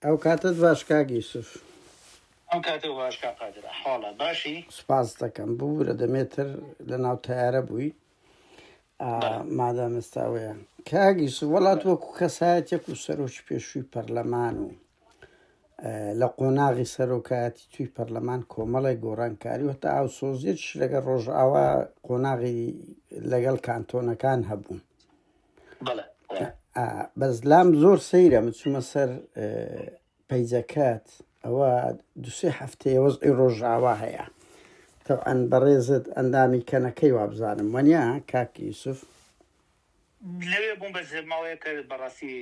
ئەو کاتەت باش کاک یوسف. ئەو کاتەو باش کاک قادر ئەحواڵە باشی. سپاست دەکەم ببورە دەمێ تر لە ناو تەیارە بووی مادام ئێستا ئەوەیە کاک یوسف وەڵات وەکو کەسایەتێک و سەرۆکی پێشووی پەرلەمان و لە قۆناغی سەرۆکایەتی توی پەرلەمان کۆمەڵی گۆڕانکاری وتە ئاوسۆزیێتش لەگە ڕۆژئاوا قۆناغی لەگەڵ کانتۆنەکان هەبوون بەس لام زۆر سەیرە من چوومە سەر پەیجەکەت ئەوە دوسێ هەفتەیە وەزئی ڕۆژاوا هەیە تەعاان بەڕێزت ئەندامی کەنەکەی وابزانم وەنیا کاکی یوسف لەوێ بووم بە زێماوەیە کە بەڕاستی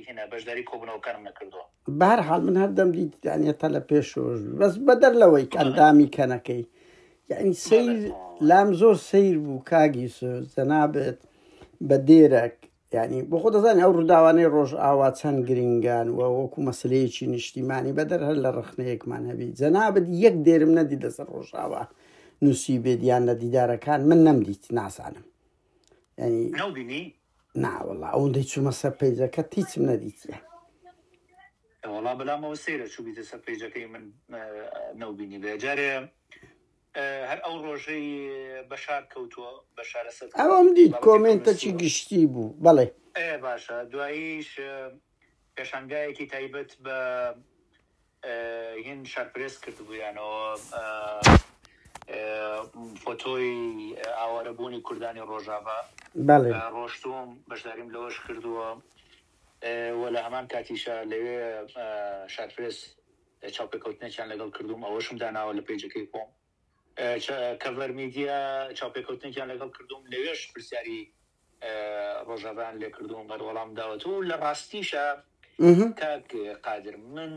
هێنا بەشداری کۆبنەوەکانم نەکردووە بەهەرحاڵ من هەردەم دیتدانە تە لە پێشۆش بەس بەدەر لەوەی ئەندامی کەنەکەی یعنی سیر لام زۆر سیر بوو کاگی سۆز جەنابێت بە دێرەک ینی بۆ خۆ دەزانانی ئەو ڕووداوانەی ڕۆژ ئاوا چەند گرنگان و وەکو مەسلەیەکی نیشتیمانی بەدەر هەر لە ڕخنەیەکمان هەبی جەنابەت یەک دێرم نەدی لەسەر ڕۆژاوا نووسی بێدیان لە دیدارەکان من نەمدیت ناسانم ینی ناوەڵا ئەوەندەی چوومە سەر پەیجەکەت هیچم نەدیتیە. وەڵا بەلامەوە سەیرە چوبیتە سەر پەیجەکەی من نەوبینی بێ جارێ هەر ئەو ڕۆژەی بەشار کەوتووە بەشارە سەر ئەوم دیت کۆمێنتەکی گشتی بوو بەڵێ باشە دواییش پێشانگایەکی تایبەت بە هین شار پرێس کردبوویانەوە فۆتۆی ئاوارە بوونی کوردانی ڕۆژاڤا ڕۆشتووم بەشداریم لەوەش کردووە وە لە هەمان کاتیشە لەوێ شار پرێس چاوپێکەوتنێکیان لەگەڵ کردوم ئەوەشم داناوە لە پێیجەکەی خۆم کەڤەر میدیا چاوپێکەوتنێکیان لەگەڵ کردووم لەوێش پرسیاری ڕۆژاڤایان لێ کردووم بەر وەڵام داوەتەوە و لە ڕاستیشە کاک قادر من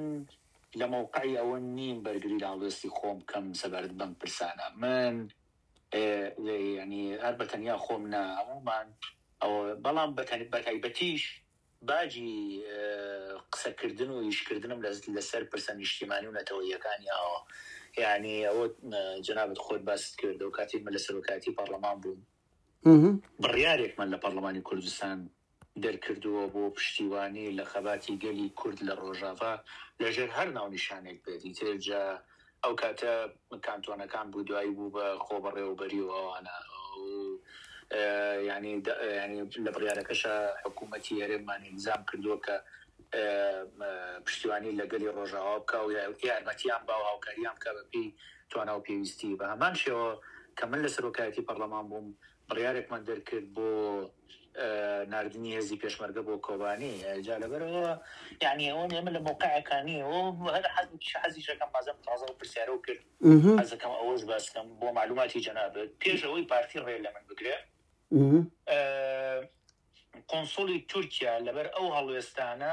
لە مەوقعی ئەوە نیم بەرگری لە هەڵوێستی خۆم بکەم سەبارەت بەم پرسانە من ینی هەر بە تەنیا خۆم نا هەمومان ئەوە بەڵام بەتەنی بەتایبەتیش باجی قسەکردن و ئیشکردنم لە لەسەر پرسە نیشتیمانی و نەتەوەییەکانی ئاوا یانی ئەوە جەنابت خۆت باست کرد و کاتێک من لە سەرۆکایەتی پەرلەمان بووم بڕیارێکمان لە پەرلەمانی کوردستان دەرکردووە بۆ پشتیوانی لە خەباتی گەلی کورد لە ڕۆژاڤا لەژێر هەر ناونیشانێک بێت ئیتر جا ئەو کاتە کانتۆنەکان بوو دوایی بوو بە خۆبەڕێوەبەری و ئەوانە و یانی یانی لە بڕیارەکەشا حکوومەتی هەرێممان ئیلزام کردووە کە پشتیوانی لە گەلی ڕۆژاوا بکا و یارمەتیان با و هاوکاریان بکا بەپێی توانا و پێویستی. بە هەمان شێوە کە من لە سەرۆکایەتی پەڕڵەمان بووم، بڕیارێکمان دەرکرد بۆ ناردنی هێزی پێشمەرگە بۆ کۆبانی جا لەبەرئەوە یانی ئەوە ئێمە لە مەوقعێکا نین و هەر حەزێکی حەزیشەکەم بازم تازە ئەو پرسیارەو کرد حەزەکەم ئەوەش باس بکەم بۆ مەعلوماتی جەنابت پێش ئەوەی پارتی ڕێ لە من بگرێ قۆنسڵی تورکیا لەبەر ئەو هەڵوێستانە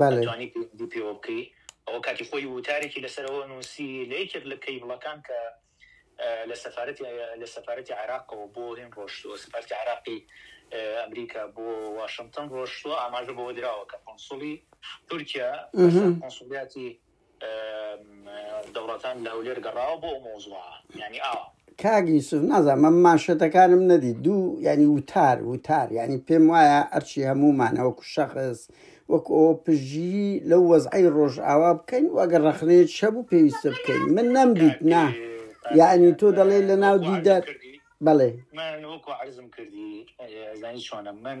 بەڵێ. ئەتوانی پەیوەندی پێوە بکەی. ئەوە کاتی خۆی ووتارێکی لەسەر ئەوە نووسی لە یەکێک لە کەیبڵەکان کە لە سەفارەتی لە سەفارەتی عێراقەوە بۆ هین ڕۆشتووە سەفارەتی عێراقی ئەمریکا بۆ واشنتن ڕۆشتووە ئاماژە بەوە دراوە کە قونسوڵی تورکیا لەسەر قونسوڵیاتی دەوڵەتان لە هەولێر گەڕاوە بۆ ئەو مەوزوعە یعنی ئاوا کاک یوسف نازانم من مانشێتەکانم نەدی دوو یعنی وتار وتار یعنی پێم وایە ئەرچی هەمومانەوە کو شەخص وەک ئەو پژگیری لەو وەزعی ڕۆژئاوا بکەین و ئەگەر ڕەخنەیە چە بوو پێویستە بکەین من نەمدیت نا یعنی تۆ دەڵێ لە ناو دیدار بەڵێ من وەکو عرضم کردی زانی چۆنە من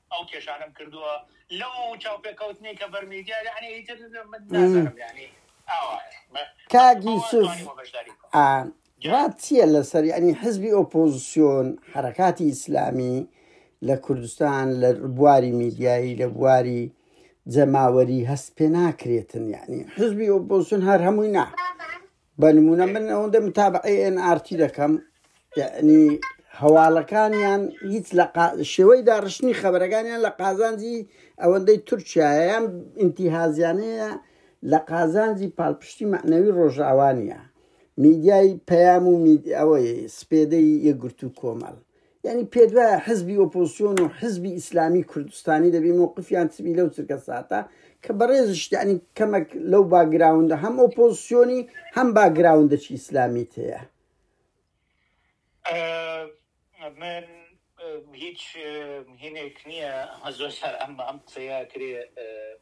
ئەو کێشانەم کردووە لەو چاوپێکەوتنەی کە بەر میدیا یەعنی ئیتر من نازانم یەعنی ئاوایە کاک یوسف ڕات چییە لەسەر یەعنی حزبی ئۆپۆزسیۆن حرەکاتی ئیسلامی لە کوردستان لە بواری میدیایی لە بواری جەماوەری هەست پێ ناکرێتن یەعنی حزبی ئۆپۆزسیۆن هەر هەمووی نا بە نمونە من ئەوەندە متابعی ئێن ئارتی دەکەم یعنی هەواڵەکانیان هیچ لە شێوەی داڕشتنی خەبەرەکانیان لە قازانجی ئەوەندەی تورکایان ئینتیهازیانەیە لە قازانجی پاڵپشتی معنەوی ڕۆژاوانە میدیای پەیام و ئەوەی سپێدەی یەگرتو کۆمەڵ یانی پێدوایە حزبی ئۆپۆسیۆن و حزبی ئیسلامی کوردستانی دەبی مووقفیان چبی لەو چرکە ساتە کە بەڕێزشتیانی کەمەک لەو باگراوندا هەم ئۆپۆسیۆنی هەم باگراوندەچی ئیسلامیت هەیە من هیچ هینێک نییە هەزۆر سەر ئەم ئەم قسەیە کرێ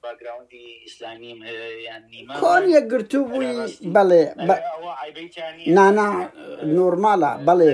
باگراوندی ئیسلامیم هەیە یان نیمە کۆن یەکگرتوو بووی بەڵێ نانا نۆرمالە بەڵێ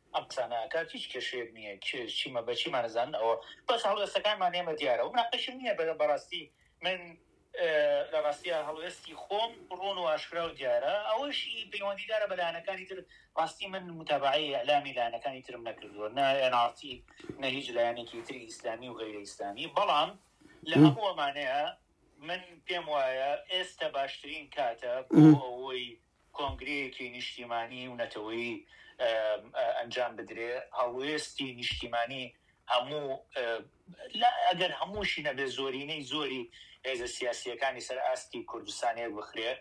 ئەم قسانە ئەکات هیچ کێشەیەک نیە کێ چی مە بە چی مان ئەزانن ئەوە بەس هەڵوێستەکانمان ئێمە دیارە و مناقەشم نیە بە بەڕاستی من لە ڕاستیا هەڵوێستی خۆم ڕوون و ئاشکرا و دیارە ئەوەشی پەیوەندی دارە بە لایەنەکانی تر ڕاستی من متابعەی ئەلامی لایەنەکانی ترم نەکردووە نە ئێناڕتی نە هیچ لایەنێکی تری ئیسلامی و غەیرە ئیسلامی بەڵام لە هەمووەمانەیە من پێم وایە ئێستا باشترین کاتە بۆ ئەوەی کۆنگرەیەکی نیشتیمانی و نەتەوەیی ئەنجام بدرێ، هەڵوێستی نیشتیمانی هەموو، ئەگەر هەمووشی نەبێ زۆرینەی زۆری هێزە سیاسییەکانی سەر ئاستی کوردستان یەک بخرێ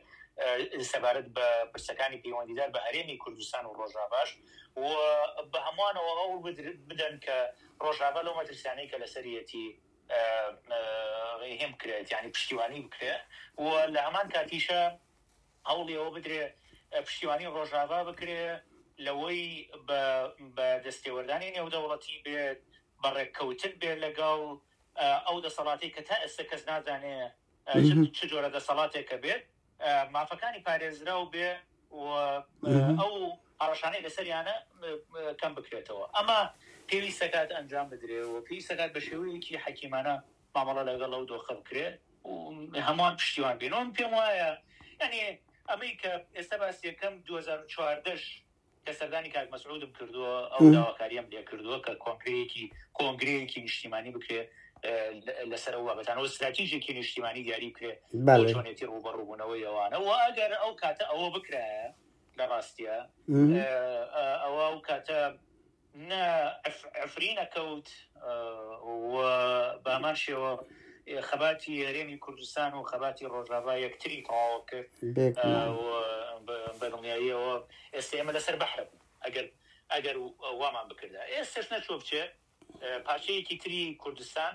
سەبارەت بە پرسەکانی پەیوەندیدار بە هەرێمی کوردستان و ڕۆژاڤاش و بە هەموانەوە هەوڵ بدەن کە ڕۆژاڤا لەو مەترسیانەی کە لەسەریەتی ڕێهێم بکرێت یانی پشتیوانی بکرێ و لە هەمان کاتیشا هەوڵی ئەوە بدرێ پشتیوانی ڕۆژاڤا بکرێ لەوەی بە دەستێوەردانی نێودەوڵەتی بێت، بە ڕێککەوتن بێت لەگەڵ ئەو دەسەڵاتەی کە تا ئێستە کەس نازانێ چ جۆرە دەسەڵاتێکە بێت، مافەکانی پارێزراو بێ و ئەو هەڕەشانەی لەسەریانە کەم بکرێتەوە. ئەمە پێویست دەکات ئەنجام بدرێ و پێویست دەکات بە شێوەیەکی حەکیمانە مامەڵە لەگەڵ ئەو دۆخە بکرێ و هەمووان پشتیوان بین و من پێم وایە یانی ئەمەی کە ئێستا باسی یەکەم دوو هەزار و چواردە ش کە سەردانی کاک مەسعودم کردووە ئەو داواکاریەم لێ کردووە کە کۆنگرەیەکی کۆنگرەیەکی نیشتیمانی بکرێ لەسەر ئەو بابەتانەوە ستراتیژێکی نیشتیمانی دیاری بکرێ بەڵێ چۆنێتی ڕووبەڕووبوونەوەی ئەوانە و ئەگەر ئەو کاتە ئەوە بکرایە لە ڕاستیە ئەوە ئەو کاتە نە عەفرین ئەکەوت و بەهەمان شێوە خەباتی هەرێمی کوردستان و خەباتی ڕۆژاڤا یەکتری تەواو کرد بەدڵنیاییەوە ئێستا ئێمە لەسەر بەحرە بوو ئەگەر ئەگەر وامان بکردا ئێستش نەچۆ بچێ پارچەیەکی تری کوردستان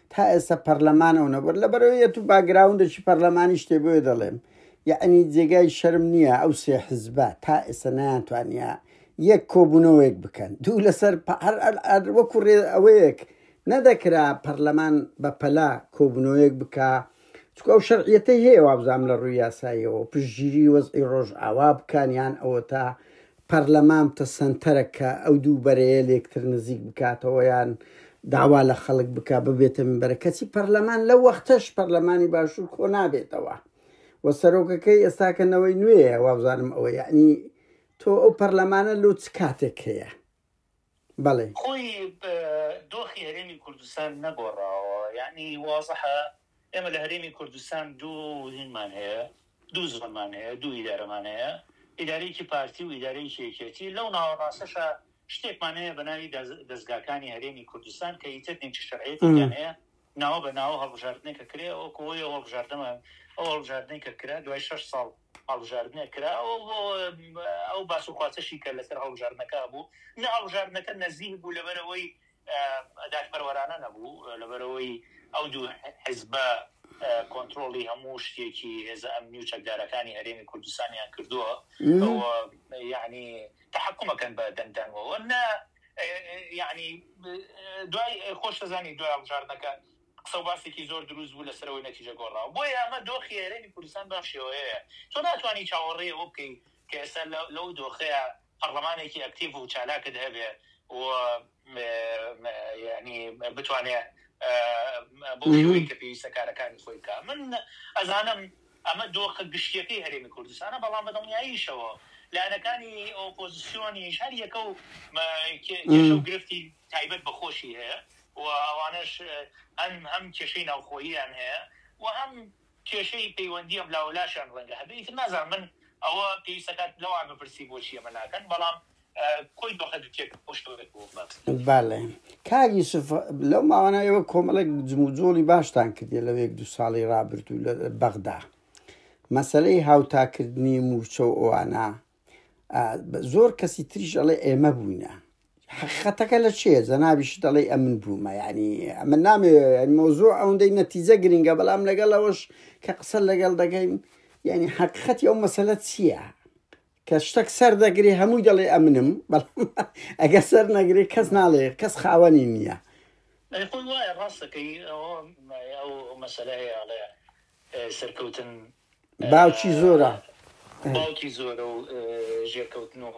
تا ئێستا پەرلەمان ئەو نەبەر لەبەرەوەیەت و باگراوندێکی پەرلەمانی شتێ بۆیە دەڵێم یعنی جێگای شەرم نییە ئەو سێ حزبە تا ئێستا نەیانتوانە یەک کۆبوونەوەیەک بکەن دوو لەسەر وەکو ڕێ ئەوەیەک نەدەکرا پەرلەمان بە پەلا کۆبوونەوەیەک بکە چکە ئەو شەرعیەتەی هەیە وابزانام لە ڕووی یاساییەوە پشتگیری وەزئی ڕۆژ ئاوا بکانیان ئەوە تا پەرلەمان بتە سەنتەرەک کە ئەو دوو بەرەیە لێکتر نزیک بکاتەوە یان داوا لە خەڵک بکا ببێتە منبەرە کەچی پەرلەمان لە وەختەش پەرلەمانی باشوور کۆ نابێتەوە و سەرۆکەکەی ئێستاکە نەوەی نوێیە وابزانم ئەوە یعنی تۆ ئەو پەرلەمانە لۆ چ کاتێک هەیە بەڵێ. خۆی دۆخی هەرێمی کوردستان نەگۆڕاوە، یەعنی وازحە ئێمە لە هەرێمی کوردستان دوو هینمان هەیە، دوو زۆنمان هەیە، دوو ئیدارەمان هەیە، ئیدارەیەکی پارتی و ئیدارەیەکی یەکێتی، لەو ناوەڕاستەشا شتێکمان هەیە بە ناوی دەزگاکانی هەرێمی کوردستان کە ئیتر نیچ شەرعیەتێکیان هەیە، ناوە بە ناوە هەڵبژاردنێک کە کرێ ئەوە کۆیە ئەو هەڵبژاردنە ئەو هەڵبژاردنەی کە کرا دوای شەش ساڵ هەڵبژاردنێک کرا و بۆ ئەو باس و خواسەشی کە لەسەر هەڵبژاردنەکە هەبوو، نە هەڵبژاردنەکە نەزیه بوو لەبەرئەوەی دادپەروەرانە نەبوو، لەبەرئەوەی ئەو دوو حزبە کۆنترۆڵی هەموو شتێکی هێزە ئەمنی و چەکدارەکانی هەرێمی کوردستانیان کردووە و یەعنی تەحەکوم ئەکەن بە دەنگدانەوە، نە یەعنی دوای خۆشتدەزانی دوای هەڵبژاردنەکە، قسە و باسێکی زۆر دروست بوو لەسەرەوەی نەتیجە گۆڕاوە بۆیە ئەمە دۆخی هەرێمی کوردستان بەم شێوەیەیە تۆ ناتوانی چاوەڕێی ئەوە بکەی کە ئێستا لەو دۆخەیا پەڕلەمانێکی ئەکتیڤ و چالاکت هەبێ و یانی بتوانێ بەو شێوەی کە پێویستە کارەکانی خۆی بکا من ئەزانم ئەمە دۆخە گشتیەکەی هەرێمی کوردستانە بەڵام بە دڵنیاییشەوە لایەنەکانی ئۆپۆزیسیۆنیش هەر یەکە و کێشە و گرفتی تایبەت بە خۆشی هەیە و ئەوانەش هەن هەم کێشەی ناوخۆییان هەیە و هەم کێشەی پەیوەندی ئەم لاوە لاشیان ڕەنگە هەبێ ئیتر نازانم من ئەوە پێویست ئەکات لەوان بپرسی بۆچی ئەمە ناکەن بەڵام کۆی دۆخە دوکێک بۆ شەوێک بۆ بەس. بەڵێ کاک یوسف لەو ماوانە ئێوە کۆمەڵێک جموجۆڵی باشتان کردیە لەو یەک دوو ساڵی ڕابردوو لە بەغدا مەسەلەی هاوتاکردنی موچە و ئەوانە زۆر کەسی تریش ئەڵێ ئێمە بووینە حقیقەتەکە لە چێ زەناویش دەڵێ ئەمن بوومە ینی ئەمە نامێ مۆزۆ ئەوەندەی نەتیجە گرنگە بەڵام لەگەڵ ئەوەش کە قسە لەگەڵ دەگەین ینی حقیقەتی ئەو مەسەلە چییە کە شتێک سەر دەگرێ هەمووی دەڵێ ئەمنم ئەگە سەر نەگرێ کەس ناڵێ کەس خاوەنی نییە خۆی وایە ڕاستەکەی ئەو مەسەلەیە ئەڵێ سەرکەوتن باوکی زۆرە. باوکی زۆرە و ژێرکەوتن و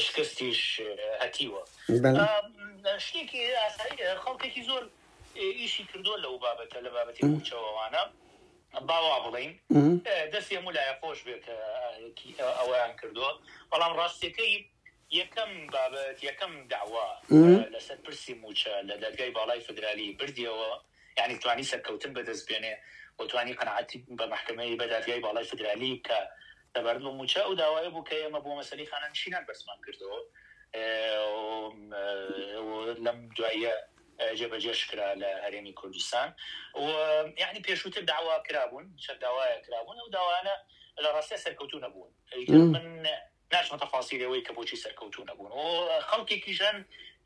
شکستیش هەتیوە. شتێکی ئاساییە خەڵکێکی زۆر ئیشی کردووە لەو بابەتە لە بابەتی مووچە و ئەوانە با وا بڵێین دەستی هەموو لایە خۆش بێت کە ئەوەیان کردووە بەڵام ڕاستیەکەی یەکەم بابەت، یەکەم دەعوا لەسەر پرسی مووچە لە دادگای باڵای فیدرالی بردیەوە، یانی توانی سەرکەوتن بەدەست بێنێ و توانی قەناعەتی بە مەحکەمەی، بە دادگای باڵای فیدرالی بکا سەبارەت بە مووچە. ئەو داوایە بوو کە ئێمە بۆ مەسەلەی خانەنشینان بەرزمان کردەوە و لەم دواییە جێبەجێش کرا لە هەرێمی کوردستان و یانی پێشووتر دەعوا کرابوون، چەند داوایەک کرابوون، ئەو داوایانە لە ڕاستیا سەرکەوتوو نەبوون. ئیتر من ناچمە تەفاسیلی ئەوەی کە بۆچی سەرکەوتوو نەبوون و خەڵکێکیش هەن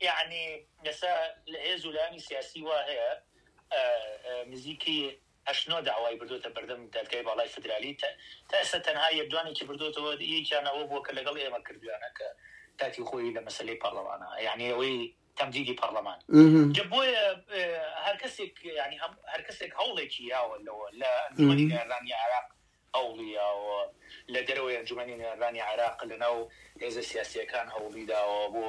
یەعنی ئێستا لە هێز و لایەنی سیاسی وا هەیە نزیکی هەشت نۆ داوای بردۆتە بەردەم دادگای باڵای فدرالی تا تا ئێستا تەنها یەک دوانێکی بردۆتەوە یەکیان ئەوە بووە کە لەگەڵ ئێمە کردویانە کە کاتی خۆی لە مەسەلەی پەڕڵەمانە یەعنی ئەوەی تەمدیدی پەڕڵەمان جا بۆیە هەر کەسێک یەعنی هەم هەر کەسێک هەوڵێکی یاوە لەوە لە ئەنجومەنی نێرلانیی عێراق ئەوڵیاوە، لە دەرەوەی ئەنجومەنی نوێنەرانی عێراق لەناو هێزە سیاسییەکان هەوڵیداوە بۆ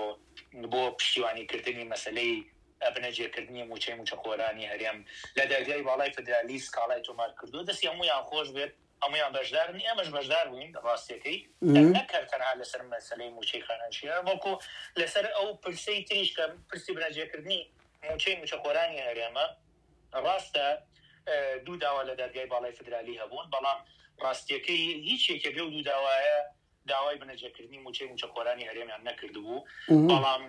بۆ پشتیوانیکردنی مەسەلەی ئەبنەجێکردنی مووچەی مووچەخۆرانی هەرێم لە دادگای باڵای فیدرالی سکاڵای تۆمارکردووە، دەستی هەموویان خۆش بێت، هەموویان بەشدارن، ئێمەش بەشدار بووین ڕاستییەکەی، کە نەک هەر تەنها لەسەر مەسەلەی مووچەی خانەنشینان، بەڵکو لەسەر ئەو پرسەی تریش کە پرسی بنەجێکردنی مووچەی مووچەخۆرانی هەرێمە، ڕاستە دوو داوا لە دادگای باڵای فیدرالی هەبوون، بەڵام ڕاستییەکەی هیچ یەکێک لەو دوو داوایە داوای بنەجەکردنی مووچەی مووچەخۆرانی هەرێمیان نەکردبوو، بەڵام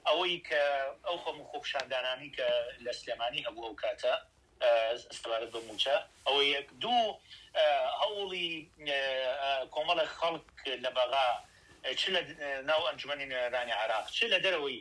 ئەوەی کە ئەو خەم و خۆپیشاندانانەی کە لە سلێمانی هەبوو ئەو کاتە سەبارەت بە مووچە ئەوە یەک، دوو هەوڵی کۆمەڵێک خەڵک لە بەغا چ لە ناو ئەنجومەنی نوێنەرانی عێراق چ لە دەرەوەی،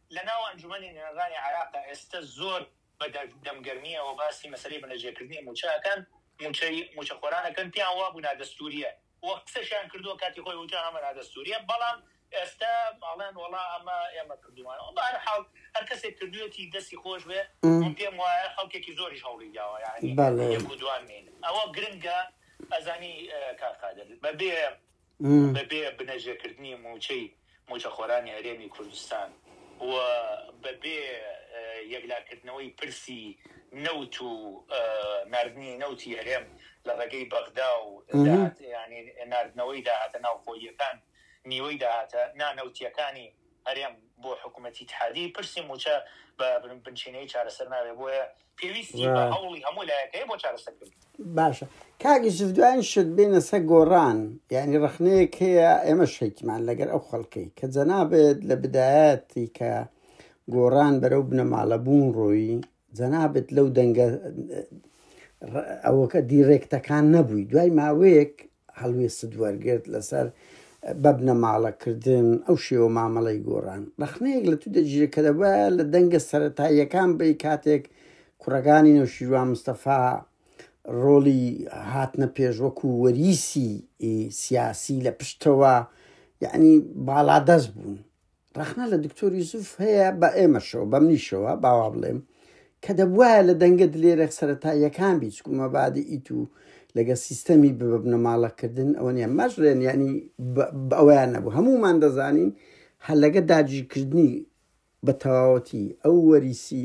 لە ناو ئەنجومەنی نوێنەرانی عێراقدا ئێستە زۆر بە دەم گەرمییەوە باسی مەسەلەی بەنرجێکردنی مووچە ئەکەن، مووچەی مووچەخۆران ئەکەن، پێیان وابوو نادەستوورییە و قسەشیان کردووە کاتی خۆی وتیان ئەمە نادەستوورییە، بەڵام ئێستە ئەڵێن وەڵا ئەمە ئێمە کردوومانەوە. بە هەر حاڵ هەر کەسێک کردوویەتی دەستی خۆش بێ، من پێم وایە خەڵکێکی زۆریش هەوڵی داوە یانی یەک و دووان نین. ئەوە گرنگە ئەزانی کاک قادر بە بێ بەبێ بنەژەکردنی مووچەی مووچەخۆرانی هەرێمی کوردستان و بەبێ یەکلاکردنەوەی پرسی نەوت و ناردنی نەوتی هەرێم لە ڕێگەی بەغدا و ناردنەوەی داهاتە ناوخۆییەکان، نیوەی داهاتە نانەوتییەکانی هەرێم بۆ حکومەتی ئیتحادی پرسی مووچە بە بنچینەیی چارەسەر نابێت، بۆیە پێویستی بە هەوڵی هەموو لایەک هەیە بۆ چارەسەرکردنی. باشە کاک یوسف دوایین شت بێنە سەر گۆڕان یانی ڕەخنەیەک هەیە ئێمە شەیکمان لەگەر ئەو خەڵکەی کە جەنابێت لە بدایەتی کە گۆڕان بەرەو بنەماڵە بوون ڕۆیی جەنابێت لەو دەنگە ئەوەکە دیڕێکتەکان نەبووی دوای ماوەیەک هەڵوێستت وەرگرت لەسەر بە بنەماڵە کردن ئەو شێوە مامەڵەی گۆڕان ڕەخنەیەک لە تو دەگیرێت کە دەبە لە دەنگە سەتاییەکان بی کاتێک کوڕەکانی نەوشیروان مستەفا ڕۆڵی هاتنە پێش وەکو وەریسی سیاسی لە پشتەوە یعنی باڵادەست بوون ڕەخنە لە دکتۆر یوسف هەیە بە ئێمەشەوە بە منیشەوە باوا بڵێم کە دەبواە لە دەنگە دلێرە سەرەتا یەکان بیت کومە بادە ئیت و لەگە سیستەمی ببنەماڵەکردن ئەوە نیە مەژرێن ینی ئەویان نەبوو هەمومان دەزانین هەر لەگە داگیرکردنی بە تەواوەتی ئەو وەریسی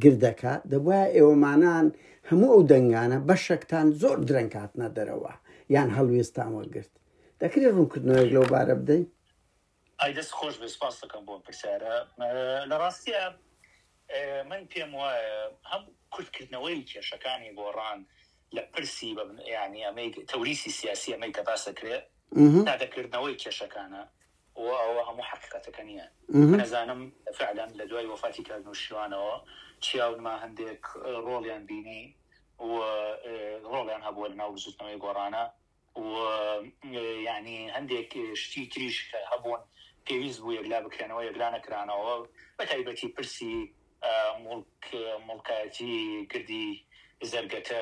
گردەکە دەبواە ئێوەمانان هەموو ئەو دەنگانە بەشەکتان زۆر درەنکاتنە دەرەوە یان هەڵوێستان وەگرت دەکرێت ڕوونکردنەوەی لەو بارە بدەین ئای دەست خۆش بێت سوپاس دەکەم بۆ ئەم پرسیارە لە ڕاستیە من پێم وایە هەم کورتکردنەوەی کێشەکانی گۆڕان لە پرسی ینی ئەمەی تەوریسی سیاسی ئەمەی کە باس دەکرێت نادەکردنەوەی کێشەکانە و ئەوە هەموو حقیقەتەکە نییە نەزانم فعلەن لە دوای وەفاتی کار نووشیوانەوە چیاونما هەندێک ڕۆڵیان بینی و ڕۆڵیان هەبووە لە ناو بزوتنەوەی گۆڕانە و یانی هەندێک شتی تریش کە هەبوون پێویست بوو یەکلا بکرێنەوە یەکلا نەکرانەوە بە تایبەتی پرسی موڵک موڵکایەتی گردی زەرگەتە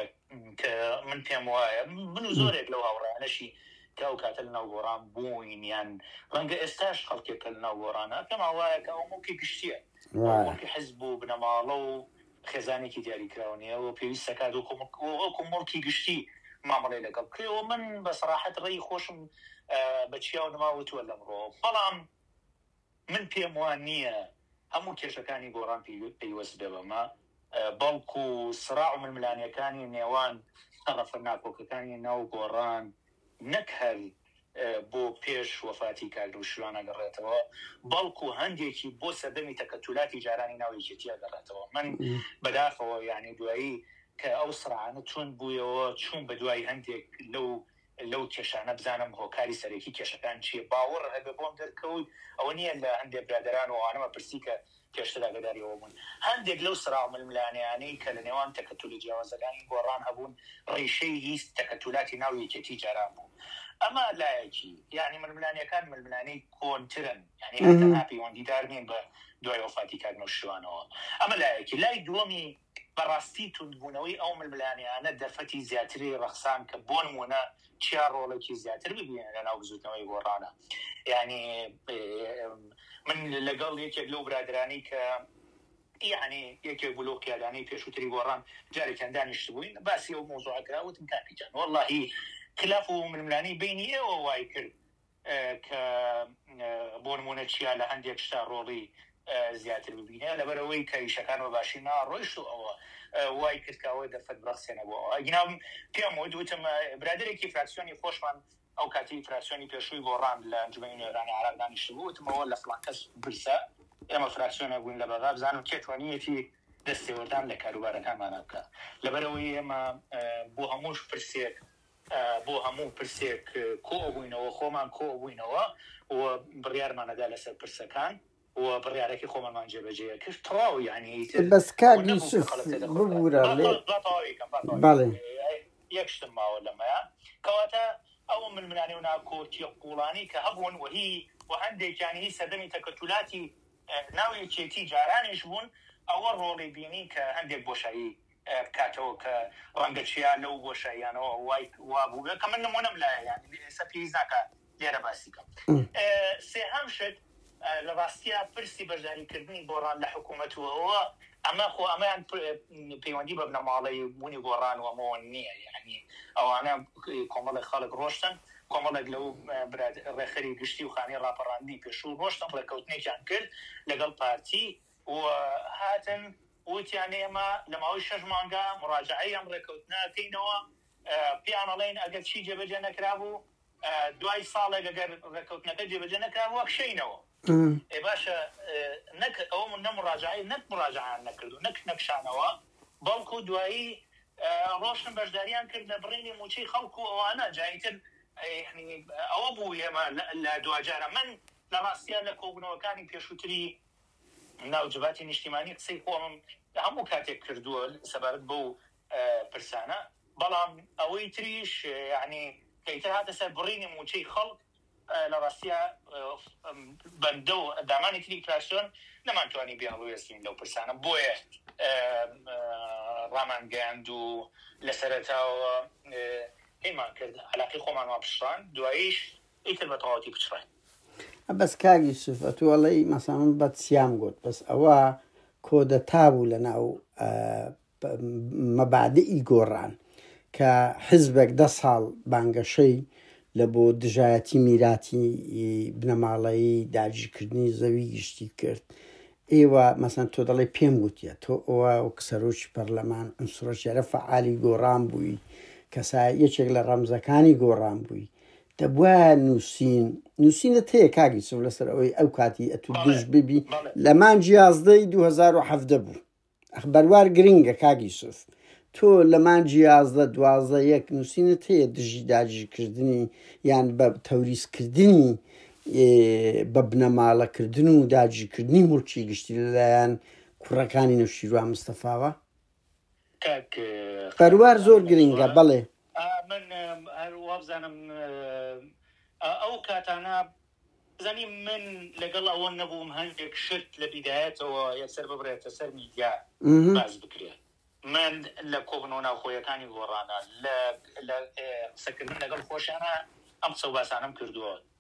کە من پێم وایە من و زۆرێک لەو هاوڕیانەشی کە ئەو کاتە لەناو گۆڕان بووین یان ڕەنگە ئێستاش خەڵکێک کە لەناو گۆڕانە پێم وایە کە ئەو موڵکی گشتیە موڵکی حزب و بنەماڵە و خێزانێکی دیاریکراو نیە و پێویست دەکات وەکو موڵکی گشتی مامەڵەی لەگەڵ بکرێت و من بە سەراحەت ڕێی خۆشم بە چیا و نما وتوە لەمڕۆ بەڵام من پێم وا نیە هەموو کێشەکانی گۆڕان پەیوەست بێ بەمە بەڵکو سڕاع و ململانێکانی نێوان تەڕەفە ناکۆکەکانی ناو گۆڕان نەک هەر بۆ پێش وەفاتی کاک نەوشیروان ئەگەڕێتەوە، بەڵکو هەندێکی بۆ سەردەمی تەکەتولاتی جارانی ناو یەکێتی ئەگەڕێتەوە. من بەداخەوە یانی دوایی کە ئەو سڕانە توند بویەوە، چوم بەدوای هەندێک لەو لەو کێشانە بزانم هۆکاری سەرەکی کێشەکان چیە. باوەڕ هەبێ بۆم دەرکەوت ئەوە نیە لە هەندێ برادەران و ئەوانەمە پرسی کە پێشتر ئاگاداری ئەوە بوون هەندێک لەو سەراو ململانێیانەی کە لە نێوان تەکەتولە جیاوازەکانی گۆڕان هەبوون ڕیشەی هی تەکەتولاتی ناو یەکێتی جاران بوو ئەمە لایەکی یانی ململانێکان ململانێی کۆنترن یانی هەر تەنها پەیوەندیدار نین بە دوای وەفاتی کاک نەوشیروانەوە ئەمە لایەکی لای دووەمی بەڕاستی توندبوونەوەی ئەو ململانێیانە دەرفەتی زیاتری ڕەخساند کە بۆ نموونە چیا ڕۆڵێکی زیاتر ببینێ لە ناو بزووتنەوەی گۆڕانە یانی من لەگەڵ یەکێک لەو برادرانی کە یعنی یەکێک بوو لەو قیادانەی پێشووتری گۆڕان جارێکیان دانیشتبووین باسی ئەو مۆزوعەکە وتم کاکیجان وەڵڵاهی خلاف و ململانی بینی ئێوە وای کرد کە بۆ نموونە چیا لە هەندێک شتا ڕۆڵی زیاتر ببینێ لەبەر ئەوەی کە ئیشەکان بە باشی ناڕۆیشت و ئەوە وای کرد کە ئەوە دەرفەت بڕەخسێنە بۆ ئەوە ئەگینا پێم وت وتم برادەرێکی فراکسیۆنی خۆشمان ئەو کاتی فراکسیۆنی پێشووی گۆڕان لە ئەنجومەنی نوێنەرانی عێراق دانیشتبوو وتمەوە لە فڵان کەس بپرسە ئێمە فراکسیۆنێک بووین لە بەغا بزانم کێ توانیویەتی دەستێوەردان لە کاروبارەکانمانە بکا لەبەر ئەوەی ئێمە بۆ هەموو پرسێک بۆ هەموو پرسێک کۆبووینەوە، خۆمان کۆبووینەوە و بڕیارمان ئەدا لەسەر پرسەکان و بڕیارەکەی خۆمانمان جێبەجێ ئەکرد. تەواو یانی ئیتر بەس کاک ونەبوو کە یوسف قەڵەتێ دەخورد کە. ببورە با لێ با تەواوی کەم، با تەواوی کەم. بەڵێ. یەک شتم ماوە لەمەیا. کەواتە ئەو ململانێ و ناکۆکییە قووڵانەی کە هەبوون و هی و هەندێکیان هی سەردەمی تەکەتولاتی ناو یەکێتی جارانیش بوون، ئەوە ڕۆڵی بینی کە هەندێک بۆشایی بکاتەوە کە ڕەنگە چیا لەو بۆشاییانەوە وای وا بووبێت کە من نموونەم لایە یانی ئێستا پێویست ناکا لێرە باسی بکەم سێهەم شت لە ڕاستیا پرسی بەشداریکردنی گۆڕان لە حکوومەت و ئەوە ئەمە خۆ ئەمەیان پەیوەندی بە بنەماڵەی بوونی گۆڕان و ئەمەوە نییە یانی ئەوانە کۆمەڵێک خەڵک ڕۆشتن کۆمەڵێک لەو برات ڕێخەری گشتی و خانی ڕاپەڕاندنی پێشوو ڕۆشتن ڕێککەوتنێکیان کرد لەگەڵ پارتی و هاتن وتیان ئێمە لە ماوەی شەش مانگا موراجەعەی ئەم ڕێکەوتنە ئەکەینەوە، پێیان ئەڵێین ئەگەر چی جێبەجێ نەکرابوو دوای ساڵێک ئەگەر ڕێکەوتنەکە جێبەجێ نەکرابوو ئەکشێینەوە. ئێ باشە نەک ئەو نە موراجەعەی نەک موراجەعەیان نەکرد و نەک نەکشانەوە بەڵکو دوایی ڕۆشتن بەشداریان کرد لە بڕینی مووچەی خەڵک و ئەوانە جا ئیتر ئەوە بوو ئێمە لە دواجارە من لە ڕاستیا لە کۆبوونەوەکانی پێشووتری ناو جڤاتی نیشتیمانی قسەی خۆمم هەموو کاتێک کردووە سەبارەت بەو پرسانە، بەڵام ئەوەی تریش یەعنی کە ئیتر هاتە سەر بڕینی مووچەی خەڵک لە ڕاستیا بەندە و ئەندامانی تری فراکسیۆن نەمانتوانی بێ هەڵوێستبین لەو پرسانە بۆیە ڕامانگەیاند و لە سەرەتاوە هەیمان کرد عەلاقەی خۆمان وا پچڕاند دواییش ئیتر بە تەواوەتی پچڕاین. بەس کاک یوسف ئەتوو ئەڵێی مەسەڵەن من بەد سیام گوت بەس ئەوە کۆدەتا بوو لە ناو مەبادئی گۆڕان کە حزبێک دە ساڵ بانگەشەی لە بۆ دژایەتی میراتی بنەماڵەیی داگیرکردنی زەوی گشتی کرد ئێوە مەسەن تۆ دەڵێ پێم گوتیە تۆ ئەوە وەک سەرۆکی پەرلەمان ئەم سرۆشێرە فعالی گۆڕان بووی کەسا یەکێک لە ڕەمزەکانی گۆڕان بووی دەبوایە نووسین نووسینت هەیە کاک یوسف لەسەر ئەوەی ئەو کاتی ئەتو بەڵێ، دژ ببی بەڵێ. لە مانج یازدەی 2017 بوو ئەخ بەروار گرنگە کاک یوسف تۆ لە مانج یازدە دوازدە یەک نووسینت هەیە دژی داگیرکردنی یان بە تەوریزکردنی ئێ، بە بنەماڵەکردن و داگیرکردنی ملکی گشتی لەلایەن کوڕەکانی نەوشیروان مستەفاوە کاک بەروار زۆر گرنگە بەڵێ من هەر وابزانم ئەو کاتانە بزانی من لەگەڵ ئەوە نەبووم هەندێک شت لە بیدایەتەوە یەکسەر ببرێتە سەر میدیا مهم. باز بکرێت من لە کۆبنەوە ناوخۆیەکانی گۆڕانە لە لە، اه، قسەکردن لەگەڵ خۆشیانە ئەم قسە و باسانەم کردووە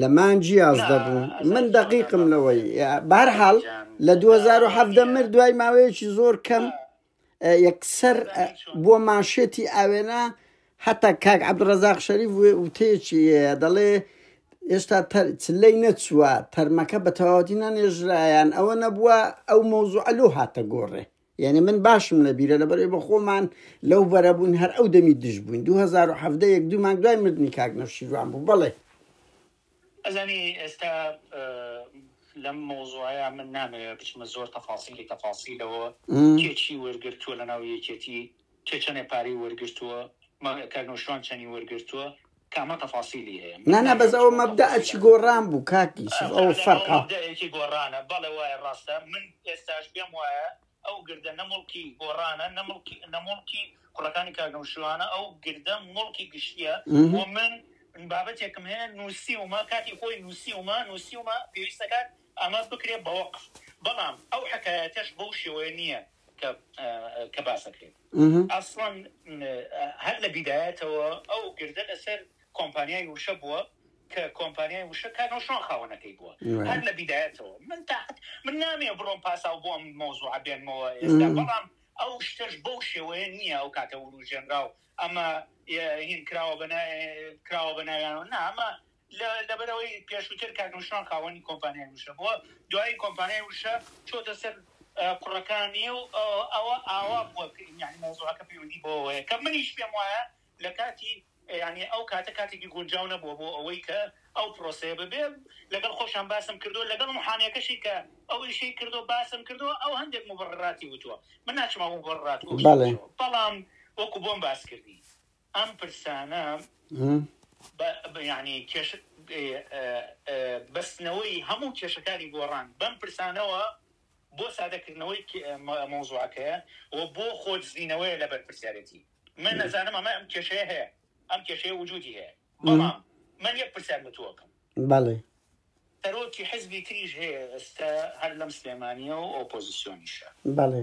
لە مانگ یازدە بوو من دەقیقم لەوەی بارحاڵ لە 2017 مرد دوای ماوەیەکی زۆر کەم یەکسەر بۆ ماشێتی ئاوێنە هەتا کاک عبدڕزاق شەریف وتێکی دەڵێ ئێستا لەی نەچووە تەرمەکە بە تەواوەتی نەنێژرایان ئەوە نەبووە ئەو مۆزوعلو هاتە گۆڕێ یەعنی من باشم لە بیرە لەبەر ئەوەی بە خۆمان لەو بەرە بووین هەر ئەو دەمی دژ بووین دوو هەزار و حەڤدە یەک دوو مانگ دوای مردنی کاک نەوشیروان بوو بەڵێ. ئەزانی ئێستا لەم مەوزوعەیا من نامەوێ بچمە زۆر تەفاسیلی تەفاسیلەوە کێ چی وەرگرتووە لەناو یەکێتی کێ چەنێ پارەی وەرگرتووە مە کەرنوشوان چەنی وەرگرتووە کامە تەفاسیلی هەیە من نانا بەس ناویان ئەوە چۆن مەبدا تەفاسیل ئەچی هەبێ گۆڕان بوو کاک ئا یوسف ئەوە فەعلەن ئەوە فەرقە مەبدایەکی گۆڕانە بەڵێ وایە ڕاستە من ئێستاش پێم وایە ئەو گردە نە موڵکی گۆڕانە نە مڵکی نە موڵکی کوڕەکانی کاک نەوشیروانە ئەو گردە موڵکی گشتیە ئه و من بابەتێکم هەیە نووسیومە کاتی خۆی نووسیومە نووسیومە پێویست دەکات ئاماژ بکرێ بە وەقف بەڵام ئەو حەکایەتەش بەو شێوەیە نییە کە باسەکرێت ئەسڵان هەر لە بیدایەتەوە ئەو گردە لەسەر کۆمپانیای وشە بووە کە کۆمپانیای وشە کار نۆشۆن خاوەنەکەی بووە هەر لە بیدایەتەوە من تاحت من نامێ بڕۆم پاسا و بۆم مۆزوع بێنمەوە ئێستا بەڵام ئەو شتەش بەو شێوەیە نییە ئەو کاتە وروژێنرا و ئەمە هین کراوە بەنا کراوە بەناویانەوە نامە لەبەر ئەوەی پێشووتر کاک نوشروان خاوەنی کۆمپانیای وشە بووە، دوایی کۆمپانیای وشە چۆتە سەر کوڕەکانی و ئەوە ئاوا بووە کە یانی مەوزوعەکە پەیوەندی بەوە هەیە کە منیش پێم وایە لە کاتی یانی ئەو کاتە کاتێکی گونجاو نەبووە بۆ ئەوەی کە ئەو پرۆسەیە ببێ لەگەڵ خۆشیان باسم کردووە لەگەڵ محامیەکەشی کە ئەو ئیشەی کردووە باسم کردووە ئەو هەندێک مبڕراتی وتووە من ناچمەوە مبڕرات بەڵێ بەڵام وەکو بۆم باس کردی ئەم پرسانە بە یانی کێش بەستنەوەی هەموو کێشەکانی گۆڕان بەم پرسانەوە بۆ سادەکردنەوەی مەوزوعەکەیە و بۆ خۆدزینەوەی لە بەرپرسیارەتی من نەزانم ئەمە ئەم کێشەیە هەیە ئەم کێشەیە وجودی هەیە بەڵام من یەک پرسیار بتووەکەم بەڵێ سەرۆکی حزبی تریش هەیە ئێستا هەر لەم سلێمانیە و ئۆپۆزیسیۆنیشە بەڵێ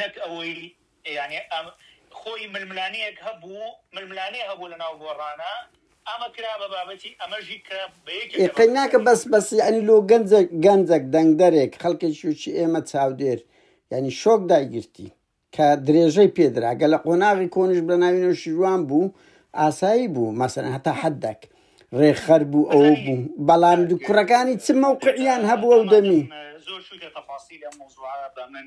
نەک ئەوەی یانی ئەم خۆی ململانێیەک هەبوو ململانێ هەبوو لەناو گۆڕانا ئەمە کرا بە بابەتی ئەمەژی کرا بە یەکێک لە بابەتەکانی. ئیقیناکە بەس بەس یانی لۆ گەنجێک گەنجەک دەنگدەرێک خەلکێکی وچی ئێمە چاودێر یانی شۆک دایگرتی کە درێژەی پێ درا گەر لە قۆناغی کۆنیش بە ناوی نەوشیروان بوو ئاسایی بوو مەسەلەن هەتا حەدەک رێکخەر بوو ئەوە بەزانی بوو بەڵام کاک کوڕەکانی چ مەوقعیان هەبوو ئەو دەمی. ئامادەم زۆر چویتە تەفاسیل ئەم مەوزوعە بە من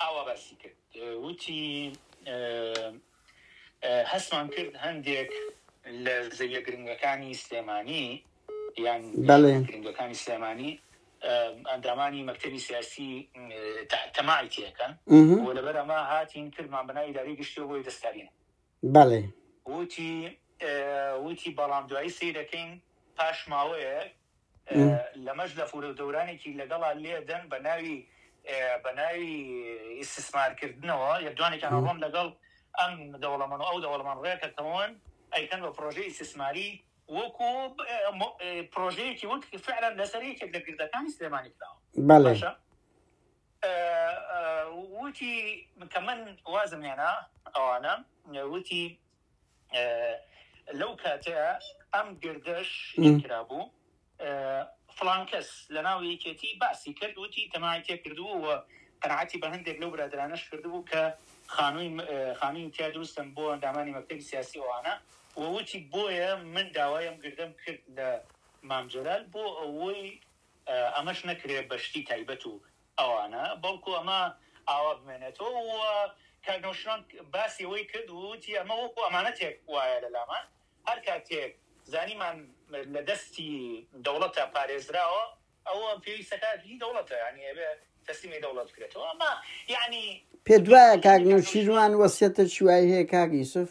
ئاوا باسی کرد وتی، هەستمان کرد هەندێک لە زەویە گرنگەکانی سلێمانی یان گرنگەکانی سلێمانی ئەندامانی مەکتتەبی سیاسی تەماعی تێکەن بۆ لەبەر ئەمە هاتین کردمان بەناوی داری گشتی بۆی دەستکارین بەڵێ. ووتی ووتی بەڵام دوایی سەیرەکەین پاش ماوەیەک لەمەش لەفورەو دەورانێکی لەگەڵا لێدەن بەناوی بەناوی ئیستسمار کردنەوە لێدوانێکیان ئەڕۆن لەگەڵ ئەم دەوڵەمەنو ئەو دەوڵەمەن ڕێکەکەون ئەیکەن بە پرۆژەی ئیستسماری وەکو پرۆژەیەکی وەک فعلا لەسەر یەکێک لە گردەکانی سلێمانی کراوە بەڵێ باشە ووتی کە من وازم هێنا ئەوانە ووتی لەو کاتەیا ئەم گردەش کرابوو فلان کەس لە ناو یەکێتی باسی کرد ووتی تەماعی تێ کردوو و قەناعەتی بە هەندێک لەو برادرانەش کردبوو کە خانووی خانووی تیا دروستم بۆ ئەندامانی مەکتەبی سیاسی ئەوانە ووتی بۆیە من داوایم گردەم کرد لە مام جەلال بۆ ئەوەی ئەمەش نەکرێت بە شتی تایبەت و ئەوانە، بەڵکو ئەمە ئاوا بمێنێتەوە و کاک نەوشیروان باسی ئەوەی کرد و وتی ئەمە وەکو ئەمانەتێک وایە لە لامان، هەر کاتێک زانیمان لە دەستی دەوڵەتە پارێزراوە، ئەوە پێویستەکە هی دەوڵەتە، یانی ئەبێ تەسلیمی دەوڵەت بکرێتەوە، ئەمە یانی. پێت وایە کاک نەوشیروان وەسیەتێکی وای هەیە کاک یوسف؟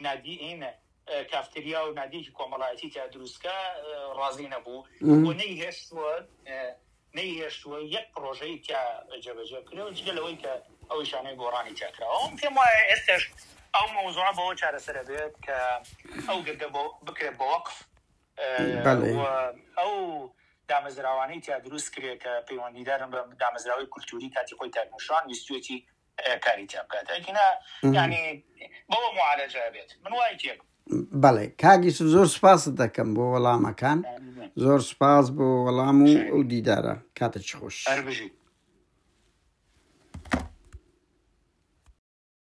نادیین کافتریا و نادیکی کۆمەڵایەتی تیا دروستکە ڕازی نەبوو و نەی هێشتووە نەی هێشتووە یەک پرۆژەی تیا جێبەجێ بکرێەوە جگە لەوەی کە ئەو شانەی گۆڕانی تیاکراوەم پێم وایە ئێستش ئەو مەوزوعە بەوە چارەسەرە بێت کە ئەو گردە بۆ بکرێت بە وەقف ئەو دامەزراوانەی تیا دروست کرێت کە پەیوەندیدارن بە دامەزراوەی کولتوری کاتی خۆی تاکمشان ویستێتی کاری تیا بکات ئەگینا یانی بەوە معالەجە ئەبێت من وای تێ بەڵێ کاک یوسف زۆر سوپاست دەکەم بۆ وەڵامەکان زۆر سوپاس بۆ وەڵام و ئەو دیدارە کاتە چ خۆش هەر بژیت